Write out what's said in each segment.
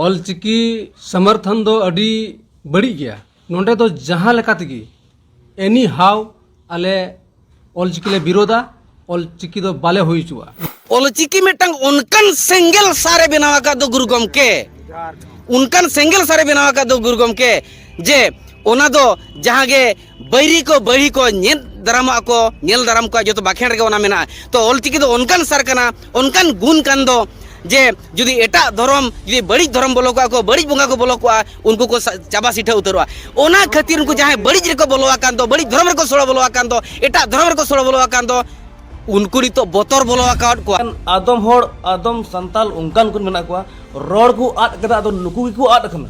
ᱚᱞ ᱪᱤᱠᱤ ᱥᱚᱢᱚᱨᱛᱷᱚᱱ ᱫᱚ ᱟᱹᱰᱤ ᱵᱟᱹᱲᱤᱡ ᱜᱮᱭᱟ ᱱᱚᱰᱮ ᱫᱚ ᱡᱟᱦᱟᱸ ᱞᱮᱠᱟ ᱛᱮᱜᱮ ᱮᱱᱤ ᱦᱟᱣ ᱟᱞᱮ ᱚᱞ ᱪᱤᱠᱤ ᱞᱮ ᱵᱤᱨᱳᱫᱟ ᱚᱞ ᱪᱤᱠᱤ ᱫᱚ ᱵᱟᱞᱮ ᱦᱩᱭ ᱦᱚᱪᱚᱣᱟᱜᱼᱟ ᱚᱞ ᱪᱤᱠᱤ ᱢᱤᱫᱴᱟᱝ ᱚᱱᱠᱟᱱ ᱥᱮᱸᱜᱮᱞ ᱥᱟᱨᱮ ᱵᱮᱱᱟᱣ ᱟᱠᱟᱫ ᱫᱚ ᱜᱩᱨᱩ ᱜᱚᱢᱠᱮ ᱚᱱᱠᱟᱱ ᱥᱮᱸᱜᱮᱞ ᱥᱟᱨᱮ ᱵᱮᱱᱟᱣ ᱟᱠᱟᱫ ᱫᱚ ᱜᱩᱨᱩ ᱜᱚᱢᱠᱮ ᱡᱮ ᱚᱱᱟ ᱫᱚ ᱡᱟᱦᱟᱸ ᱜᱮ ᱵᱟᱹᱭᱨᱤ ᱠᱚ ᱵᱟᱹᱭᱨᱤ ᱠᱚ ᱧᱮᱞ ᱫᱟᱨᱟᱢᱚᱜᱼᱟ ᱠᱚ ᱧᱮᱞ ᱫᱟᱨᱟᱢ ᱠᱚᱣᱟ ᱡᱚᱛᱚ ᱵᱟᱠᱷᱮᱲ ᱨᱮᱜᱮ ᱚᱱᱟ ᱢᱮᱱᱟᱜᱼᱟ ᱛᱚ ᱚᱞᱪᱤᱠᱤ ᱫᱚ ᱚᱱᱠᱟᱱ ᱥᱟᱨ ᱠᱟᱱᱟ ᱚᱱᱠᱟᱱ ᱜᱩᱱ ᱠᱟᱱ ᱫᱚ ᱡᱮ ᱡᱩᱫᱤ ᱮᱴᱟᱜ ᱫᱷᱚᱨᱚᱢ ᱡᱩᱫᱤ ᱵᱟᱹᱲᱤᱡ ᱫᱷᱚᱨᱚᱢ ᱵᱚᱞᱚ ᱠᱚᱜᱼᱟ ᱠᱚ ᱵᱟᱹᱲᱤᱡ ᱵᱚᱸᱜᱟ ᱠᱚ ᱵᱚᱞᱚ ᱠᱚᱜᱼᱟ ᱩᱱᱠᱩ ᱠᱚ ᱪᱟᱵᱟ ᱥᱤᱴᱷᱟᱹ ᱩᱛᱟᱹᱨᱚᱜᱼᱟ ᱚᱱᱟ ᱠᱷᱟᱹᱛᱤᱨ ᱩᱱᱠᱩ ᱡᱟᱦᱟᱸᱭ ᱵᱟᱹᱲᱤᱡ ᱨᱮᱠᱚ ᱵᱚᱞᱚ ᱟᱠᱟᱱ ᱫᱚ ᱵᱟᱹᱲᱤᱡ ᱫᱷᱚᱨᱚᱢ ᱨᱮᱠᱚ ᱥᱚᱲᱚ ᱵᱚᱞᱚ ᱟᱠᱟᱱ ᱫᱚ ᱮᱴᱟᱜ ᱫᱷᱚᱨᱚᱢ ᱨᱮᱠᱚ ᱥᱚᱲᱚ ᱵᱚᱞᱚ ᱟᱠᱟᱱ ᱫᱚ ᱩᱱᱠᱩ ᱱᱤᱛᱚᱜ ᱵᱚᱛᱚᱨ ᱵᱚᱞᱚ ᱟᱠᱟᱫ ᱠᱚᱣᱟ ᱟᱫᱚᱢ ᱦᱚᱲ ᱟᱫᱚᱢ ᱥᱟᱱᱛᱟᱞ ᱚᱱᱠᱟᱱ ᱠᱚ ᱢᱮᱱᱟᱜ ᱠᱚᱣᱟ ᱨᱚᱲ ᱠᱚ ᱟᱫ ᱠᱟᱫᱟ ᱟᱫᱚ ᱱᱩᱠᱩ ᱜᱮᱠᱚ ᱟᱫ ᱟᱠᱟᱱᱟ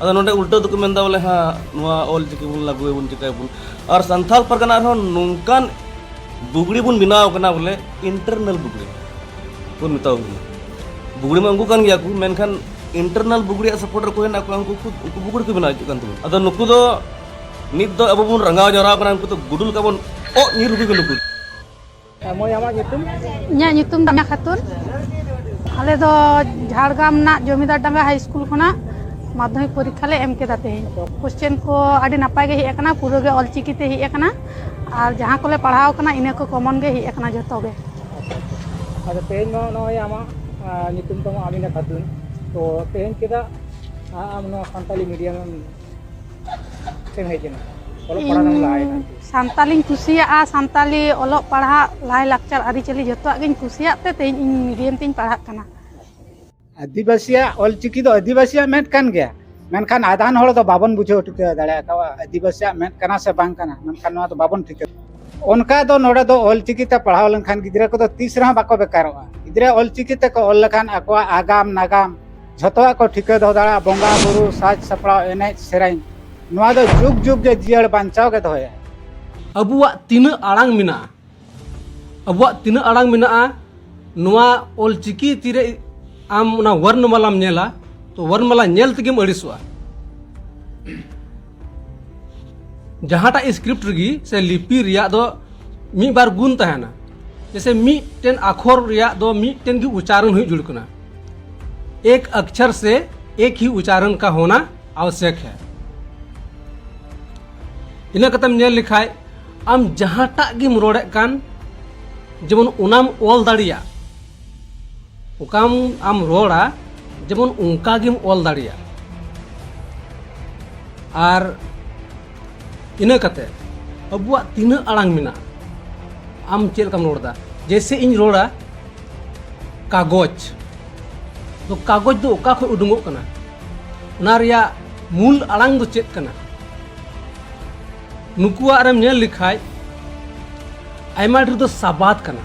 ᱟᱫᱚ ᱱᱚᱰᱮ ᱩᱞᱴᱟᱹ ᱫᱚᱠᱚ ᱢᱮᱱᱫᱟ ᱵᱚᱞᱮ ᱦᱟ ᱱᱚᱣᱟ ᱚᱞ ᱪᱤᱠᱤ ᱵᱚᱱ ᱞᱟᱹᱜᱩᱭᱟᱵᱚᱱ ᱪᱤᱠᱟᱹᱭᱟᱵᱚᱱ ᱟᱨ ᱥᱟᱱᱛᱟᱲ ᱯᱟᱨᱜᱟᱱᱟ ᱨᱮᱦᱚᱸ ᱱᱚᱝᱠᱟᱱ ᱵᱩᱜᱲᱤ ᱵᱚᱱ ᱵᱮᱱᱟᱣ ᱠᱟᱱᱟ ᱵᱚᱞᱮ ᱤᱱᱴᱟᱨᱱᱟᱞ ᱵᱩᱜᱲᱤ ᱵᱚᱱ ᱢᱮᱛᱟᱣ ᱠᱟᱱᱟ ᱵᱩᱜᱲᱤ ᱢᱟ ᱩᱱᱠᱩ ᱠᱟᱱ ᱜᱮᱭᱟ ᱠᱚ ᱢᱮᱱᱠᱷᱟᱱ ᱤᱱᱴᱟᱨᱱᱟᱞ ᱵᱩᱜᱲᱤ ᱥᱟᱯᱳᱨᱴ ᱨᱮᱠᱚ ᱦᱮᱱᱟᱜ ᱠᱚᱣᱟ ᱩᱱᱠᱩ ᱩᱱᱠᱩ ᱵᱩᱜᱲᱤ ᱠᱚ ᱵᱮᱱᱟᱣ ᱦᱚᱪᱚᱜ ᱠᱟᱱ ᱛᱟᱵᱚᱱᱟ ᱟᱫᱚ ᱱᱩᱠᱩ ᱫᱚ ᱱᱤᱛ ᱫᱚ ᱟᱵᱚ ᱵᱚᱱ ᱨᱟᱸᱜᱟᱣ ᱡᱟᱣᱨᱟᱣ ᱠᱟᱱᱟ ᱩᱱᱠᱩ ᱫᱚ ᱜᱩᱰᱩ ᱞᱮᱠᱟ ᱵᱚᱱ ᱚᱜ ᱧᱤᱨ ᱩᱰᱩᱠ ᱱᱩᱠᱩ ᱢᱟᱹᱭ ᱟᱢᱟᱜ ᱧᱩᱛᱩᱢ ᱤᱧᱟᱹᱜ ᱧᱩᱛᱩᱢ ᱫᱚ ᱢᱤᱱᱟ ᱠᱷᱟᱛᱩᱱ ᱟᱞᱮ ᱫᱚ ᱡᱷᱟᱲᱜᱨᱟᱢ ᱨᱮᱱᱟᱜ ᱡᱚᱢᱤᱫᱟᱨ ᱰᱟᱸᱜᱟ ᱦᱟᱭ ᱥᱠᱩᱞ ᱠᱷᱚᱱᱟᱜ ᱢᱟᱫᱽᱫᱷᱚᱢᱤᱠ ᱯᱚᱨᱤᱠᱠᱷᱟ ᱞᱮ ᱮᱢ ᱠᱮᱫᱟ ᱛᱮᱦᱮᱧ ᱠᱚᱥᱪᱮᱱ ᱠᱚ ᱟᱹᱰᱤ ᱱᱟᱯᱟᱭ ᱜᱮ ᱦᱮᱡ ᱟᱠᱟᱱᱟ ᱯᱩᱨᱟᱹ ᱜᱮ ᱚᱞᱪᱤᱠᱤ ᱛᱮ ᱦᱮᱡ ᱟᱠᱟᱱᱟ ᱟᱨ ᱡᱟᱦᱟᱸ ᱠᱚᱞᱮ ᱯᱟᱲᱦᱟᱣ ᱟᱠᱟᱱᱟ ᱤᱱᱟᱹ ᱠᱚ ᱠᱚᱢᱚᱱ ᱜᱮ ᱦᱮᱡ ᱟᱠᱟᱱᱟ ᱡᱚᱛᱚ ᱜᱮ ᱟᱫᱚ ᱛᱮᱦᱮᱧ ᱢᱟ ᱱᱚᱜᱼᱚᱭ ᱟᱢᱟᱜ ᱧᱩᱛᱩᱢ ᱛᱟᱢ ᱟᱢᱤᱱᱟ ᱠᱷᱟᱛᱩᱱ ᱛᱚ ᱛᱮᱦᱮᱧ ᱪᱮᱫᱟᱜ ᱟᱢ ᱱᱚᱣᱟ ᱥᱟᱱᱛᱟᱞᱤ ᱢᱤᱰᱤᱭᱟᱢ ᱮᱢ ᱥᱟᱱᱛᱟᱞᱤᱧ ᱠᱩᱥᱤᱭᱟᱜᱼᱟ ᱥᱟᱱᱛᱟᱞᱤ ᱚᱞᱚᱜ ᱯᱟᱲᱦᱟᱜ ᱞᱟᱭ ᱞᱟᱠᱪᱟᱨ ᱟᱹᱨᱤᱪᱟᱹᱞᱤ ᱡᱚᱛᱚᱣᱟᱜ ᱜᱤᱧ ᱠᱩᱥᱤᱭᱟᱜ ᱛᱮ ᱛᱮᱦᱮᱧ ᱤᱧ ᱢᱤᱰᱤᱭᱟᱢ ᱛᱤᱧ ᱯᱟᱲᱦᱟᱜ ᱠᱟᱱᱟ ᱟᱹᱫᱤᱵᱟᱹᱥᱤᱭᱟᱜ ᱚᱞᱪᱤᱠᱤ ᱫᱚ ᱟᱹᱫᱤᱵᱟᱹᱥᱤᱭᱟᱜ ᱢᱮᱫ ᱠᱟᱱ ᱜᱮᱭᱟ ᱢᱮᱱᱠᱷᱟᱱ ᱟᱫᱷᱟᱱ ᱦᱚᱲ ᱫᱚ ᱵᱟᱵᱚᱱ ᱵᱩᱡᱷᱟᱹᱣ ᱴᱷᱤᱠᱟᱹ ᱫᱟᱲᱮᱭᱟᱜ ᱠᱟᱱᱟ ᱟᱹᱫᱤᱵᱟᱹᱥᱤᱭᱟᱜ ᱢᱮᱫ ᱠᱟᱱᱟ ᱥᱮ ᱵᱟᱝ ᱠᱟᱱᱟ ᱢᱮᱱᱠᱷᱟᱱ ᱱᱚᱣᱟ ᱫᱚ ᱵᱟᱵᱚᱱ ᱴᱷᱤᱠᱟᱹ ᱚᱱᱠᱟ ᱫᱚ ᱱᱚᱰᱮ ᱫᱚ ᱚᱞᱪᱤᱠᱤ ᱛᱮ ᱯᱟᱲᱦᱟᱣ ᱞᱮᱱᱠᱷᱟᱱ ᱜᱤᱫᱽᱨᱟᱹ ᱠᱚᱫᱚ ᱛᱤᱥ ᱨᱮᱦᱚᱸ ᱵᱟᱠᱚ ᱵᱮᱠᱟᱨᱚᱜᱼᱟ ᱜᱤᱫᱽᱨᱟᱹ ᱚᱞᱪᱤᱠᱤ ᱛᱮᱠᱚ ᱚᱞ ᱞᱮᱠᱷᱟᱱ ᱟᱠᱚᱣᱟᱜ ᱟᱜᱟᱢ ᱱᱟᱜᱟᱢ ᱡᱷᱚᱛᱚᱣᱟᱜ ᱠᱚ ᱴᱷᱤᱠᱟᱹ ᱫᱚᱦᱚ ᱫᱟᱲᱮᱭᱟᱜᱼᱟ ᱵᱚᱸᱜᱟ ᱵᱩᱨᱩ ᱥᱟᱡᱽ ᱥᱟᱯᱲᱟᱣ ᱮᱱᱮᱡ ᱥᱮᱨᱮᱧ ᱱᱚᱣᱟ ᱫᱚ ᱡᱩᱜᱽ ᱡᱩᱜᱽ ᱜᱮ ᱡᱤᱭᱟᱹᱲ ᱵᱟᱧᱪᱟᱣ ᱜᱮ ᱫᱚᱦᱚᱭᱟ ᱟᱵᱚᱣᱟᱜ ᱛᱤᱱᱟᱹᱜ ᱟᱲᱟᱝ ᱢᱮᱱᱟᱜᱼᱟ ᱟᱵᱚᱣᱟᱜ ᱛᱤᱱᱟᱹᱜ ᱟᱲᱟᱝ ᱢᱮᱱᱟᱜᱼᱟ ᱱᱚᱣᱟ ᱚᱞ ᱪᱤᱠᱤ ᱛᱤᱨᱮ ᱟᱢ ᱚᱱᱟ ᱣᱚᱨᱱᱚᱢᱟᱞᱟᱢ ᱧᱮᱞᱟ ᱛᱚ ᱣᱚᱨᱱᱚᱢᱟᱞᱟ ᱧᱮᱞ ᱛᱮᱜᱮᱢ ᱟᱹᱲᱤᱥᱚᱜᱼᱟ ᱡᱟᱦᱟᱸᱴᱟᱜ ᱥᱠᱨᱤᱯᱴ ᱨᱮᱜᱮ ᱥᱮ ᱞᱤᱯᱤ ᱨᱮᱭᱟᱜ ᱫᱚ ᱢᱤᱫ ᱵᱟᱨ ᱜᱩᱱ ᱛᱟᱦᱮᱱᱟ ᱡᱮᱥᱮ ᱢᱤᱫᱴᱮᱱ ᱟᱠᱷᱚᱨ ᱨᱮᱭᱟᱜ ᱫᱚ ᱢᱤᱫᱴᱮᱱ ᱜᱮ ᱩᱪᱟᱨᱚᱱ ᱦᱩᱭᱩᱜ ᱡᱩᱲ ᱠᱟᱱᱟ ᱮᱠ ᱟᱠᱪᱷᱟᱨ ᱥᱮ ᱮᱠ ᱦᱤ ᱩᱪᱟᱨᱚᱱ ᱠᱟ ᱦᱚᱱᱟ ᱟᱣᱥᱭᱚᱠ ᱦᱮ ᱤᱱᱟᱹ ᱠᱟᱛᱮᱢ ᱧᱮᱞ ᱞᱮᱠᱷᱟᱡ ᱟᱢ ᱡᱟᱦᱟᱸᱴᱟᱜ ᱜᱮᱢ ᱨᱚᱲᱮᱫ ᱠᱟᱱ ᱡᱮᱢᱚᱱ ᱚᱱᱟᱢ ᱚᱞ ᱫᱟᱲᱮᱭᱟᱜ ᱚᱠᱟᱢ ᱟᱢ ᱨᱚᱲᱟ ᱡᱮᱢᱚᱱ ᱚᱱᱠᱟ ᱜᱮᱢ ᱚᱞ ᱫᱟᱲᱮᱭᱟᱜ ᱟᱨ ᱤᱱᱟᱹ ᱠᱟᱛᱮ ᱟᱵᱚᱣᱟᱜ ᱛᱤᱱᱟᱹᱜ ᱟᱲᱟᱝ ᱢᱮᱱᱟᱜᱼᱟ ᱟᱢ ᱪᱮᱫ ᱞᱮᱠᱟᱢ ᱨᱚᱲᱫᱟ ᱡᱮᱭᱥᱮ ᱤᱧ ᱨᱚᱲᱟ ᱠᱟᱜᱚᱡᱽ ᱫᱚ ᱠᱟᱜᱚᱡᱽ ᱫᱚ ᱚᱠᱟ ᱠᱷᱚᱱ ᱩᱰᱩᱝᱚᱜ ᱠᱟᱱᱟ ᱚᱱᱟ ᱨᱮᱭᱟᱜ ᱢᱩᱞ ᱟᱲᱟᱝ ᱫᱚ ᱪᱮᱫ ᱠᱟᱱᱟ ᱱᱩᱠᱩᱣᱟᱜ ᱨᱮᱢ ᱧᱮᱞ ᱞᱮᱠᱷᱟᱡ ᱟᱭᱢᱟ ᱰᱷᱮᱨ ᱫᱚ ᱥᱟᱵᱟᱫ ᱠᱟᱱᱟ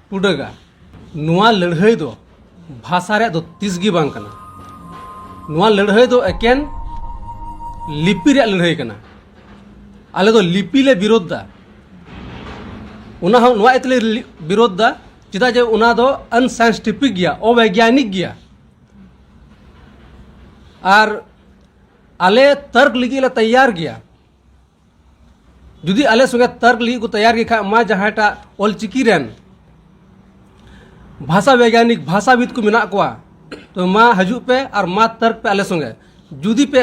ᱴᱩᱰᱟᱹᱜᱟ ᱱᱚᱣᱟ ᱞᱟᱹᱲᱦᱟᱹᱭ ᱫᱚ ᱵᱷᱟᱥᱟ ᱨᱮᱭᱟᱜ ᱫᱚ ᱛᱤᱥ ᱜᱮ ᱵᱟᱝ ᱠᱟᱱᱟ ᱱᱚᱣᱟ ᱞᱟᱹᱲᱦᱟᱹᱭ ᱫᱚ ᱮᱠᱮᱱ ᱞᱤᱯᱤ ᱨᱮᱭᱟᱜ ᱞᱟᱹᱲᱦᱟᱹᱭ ᱠᱟᱱᱟ ᱟᱞᱮ ᱫᱚ ᱞᱤᱯᱤ ᱞᱮ ᱵᱤᱨᱳᱫᱷ ᱫᱟ ᱚᱱᱟ ᱦᱚᱸ ᱱᱚᱣᱟ ᱤᱭᱟᱹᱛᱮ ᱞᱮ ᱵᱤᱨᱳᱫᱷ ᱫᱟ ᱪᱮᱫᱟᱜ ᱡᱮ ᱚᱱᱟ ᱫᱚ ᱟᱱᱥᱟᱭᱮᱱᱥᱴᱤᱯᱷᱤᱠ ᱜᱮᱭᱟ ᱚᱵᱮᱜᱽᱭᱟᱱᱤᱠ ᱜᱮᱭᱟ ᱟᱨ ᱟᱞᱮ ᱛᱟᱨᱠ ᱞᱟᱹᱜᱤᱫ ᱞᱮ ᱛᱮᱭᱟᱨ ᱜᱮᱭᱟ ᱡᱩᱫᱤ ᱟᱞᱮ ᱥᱚᱸᱜᱮ ᱛᱟᱨᱠ ᱞᱟᱹᱜᱤᱫ ᱠᱚ ᱛᱮᱭᱟᱨ ᱜᱮ ᱠᱷᱟᱡ ᱢᱟ ᱡᱟᱦᱟᱸᱭᱴᱟᱜ ᱚᱞᱪᱤᱠᱤ ᱨᱮᱱ ᱵᱷᱟᱥᱟ ᱵᱮᱜᱽᱭᱟᱱᱤᱠ ᱵᱷᱟᱥᱟᱵᱤᱫ ᱠᱚ ᱢᱮᱱᱟᱜ ᱠᱚᱣᱟ ᱛᱚ ᱢᱟ ᱦᱤᱡᱩᱜ ᱯᱮ ᱟᱨ ᱢᱟ ᱛᱟᱨᱠ ᱯᱮ ᱟᱞᱮ ᱥᱚᱸᱜᱮ ᱡᱩᱫᱤ ᱯᱮ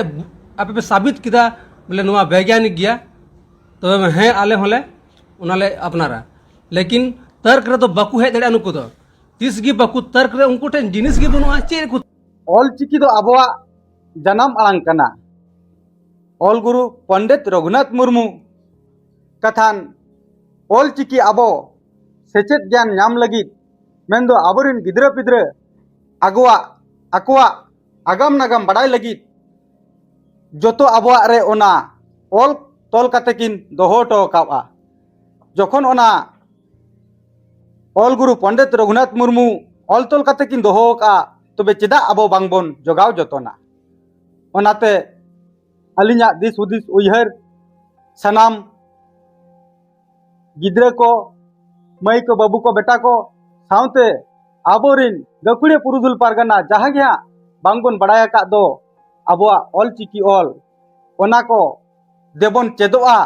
ᱟᱯᱮ ᱯᱮ ᱥᱟᱵᱤᱛ ᱠᱮᱫᱟ ᱵᱚᱞᱮ ᱱᱚᱣᱟ ᱵᱮᱜᱽᱭᱟᱱᱤᱠ ᱜᱮᱭᱟ ᱛᱚᱵᱮ ᱦᱮᱸ ᱟᱞᱮ ᱦᱚᱸᱞᱮ ᱚᱱᱟᱞᱮ ᱟᱯᱱᱟᱨᱟ ᱞᱮᱠᱤᱱ ᱛᱟᱨᱠ ᱨᱮᱫᱚ ᱵᱟᱠᱚ ᱦᱮᱡ ᱫᱟᱲᱮᱭᱟᱜᱼᱟ ᱱᱩᱠᱩ ᱫᱚ ᱛᱤᱥ ᱜᱮ ᱵᱟᱠᱚ ᱛᱟᱨᱠ ᱨᱮ ᱩᱱᱠᱩ ᱴᱷᱮᱱ ᱡᱤᱱᱤᱥ ᱜᱮ ᱵᱟᱹᱱᱩᱜᱼᱟ ᱪᱮᱫ ᱠᱚ ᱚᱞᱪᱤᱠᱤ ᱫᱚ ᱟᱵᱚᱣᱟᱜ ᱡᱟᱱᱟᱢ ᱟᱲᱟᱝ ᱠᱟᱱᱟ ᱚᱞ ᱜᱩᱨᱩ ᱯᱚᱱᱰᱤᱛ ᱨᱚᱜᱷᱩᱱᱟᱛᱷ ᱢᱩᱨᱢᱩ ᱠᱟᱛᱷᱟᱱ ᱚᱞ ᱪᱤᱠᱤ ᱟᱵᱚ ᱥᱮᱪᱮᱫ ᱜᱮᱭᱟᱱ ᱧᱟᱢ ᱞᱟᱹᱜᱤᱫ ᱢᱮᱱᱫᱚ ᱟᱵᱚᱨᱮᱱ ᱜᱤᱫᱽᱨᱟᱹ ᱯᱤᱫᱽᱨᱟᱹ ᱟᱜᱚᱣᱟᱜ ᱟᱠᱚᱣᱟᱜ ᱟᱜᱟᱢ ᱱᱟᱜᱟᱢ ᱵᱟᱰᱟᱭ ᱞᱟᱹᱜᱤᱫ ᱡᱚᱛᱚ ᱟᱵᱚᱣᱟᱜ ᱨᱮ ᱚᱱᱟ ᱚᱞ ᱛᱚᱞ ᱠᱟᱛᱮ ᱠᱤᱱ ᱫᱚᱦᱚ ᱦᱚᱴᱚ ᱟᱠᱟᱫᱼᱟ ᱡᱚᱠᱷᱚᱱ ᱚᱱᱟ ᱚᱞ ᱜᱩᱨᱩ ᱯᱚᱱᱰᱤᱛ ᱨᱚᱜᱷᱩᱱᱟᱛᱷ ᱢᱩᱨᱢᱩ ᱚᱞ ᱛᱚᱞ ᱠᱟᱛᱮ ᱠᱤᱱ ᱫᱚᱦᱚ ᱟᱠᱟᱫᱼᱟ ᱛᱚᱵᱮ ᱪᱮᱫᱟᱜ ᱟᱵᱚ ᱵᱟᱝ ᱵᱚᱱ ᱡᱚᱜᱟᱣ ᱡᱚᱛᱚᱱᱟ ᱚᱱᱟᱛᱮ ᱟᱹᱞᱤᱧᱟᱜ ᱫᱤᱥ ᱦᱩᱫᱤᱥ ᱩᱭᱦᱟᱹᱨ ᱥᱟᱱᱟᱢ ᱜᱤᱫᱽᱨᱟᱹ ᱠᱚ ᱢᱟᱹᱭ ᱠᱚ ᱵᱟᱹᱵᱩ ᱠᱚ ᱵᱮᱴᱟ ᱠᱚ ᱥᱟᱶᱛᱮ ᱟᱵᱚᱨᱤᱱ ᱜᱟᱹᱠᱷᱩᱲᱤᱭᱟᱹ ᱯᱩᱨᱩᱫᱷᱩᱞ ᱯᱟᱨᱜᱟᱱᱟ ᱡᱟᱦᱟᱸ ᱜᱮ ᱦᱟᱸᱜ ᱵᱟᱝ ᱵᱚᱱ ᱵᱟᱲᱟᱭ ᱟᱠᱟᱫ ᱫᱚ ᱟᱵᱚᱣᱟᱜ ᱚᱞ ᱪᱤᱠᱤ ᱚᱞ ᱚᱱᱟ ᱠᱚ ᱫᱮᱵᱚᱱ ᱪᱮᱫᱚᱜᱼᱟ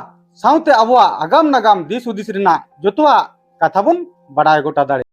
ᱥᱟᱶᱛᱮ ᱟᱵᱚᱣᱟᱜ ᱟᱜᱟᱢ ᱱᱟᱜᱟᱢ ᱫᱤᱥ ᱦᱩᱫᱤᱥ ᱨᱮᱱᱟᱜ ᱡᱚᱛᱚᱣᱟᱜ ᱠᱟᱛᱷᱟ ᱵᱚᱱ ᱵᱟᱲᱟᱭ ᱜᱚᱴᱟ ᱫᱟᱲᱮᱭᱟᱜᱼᱟ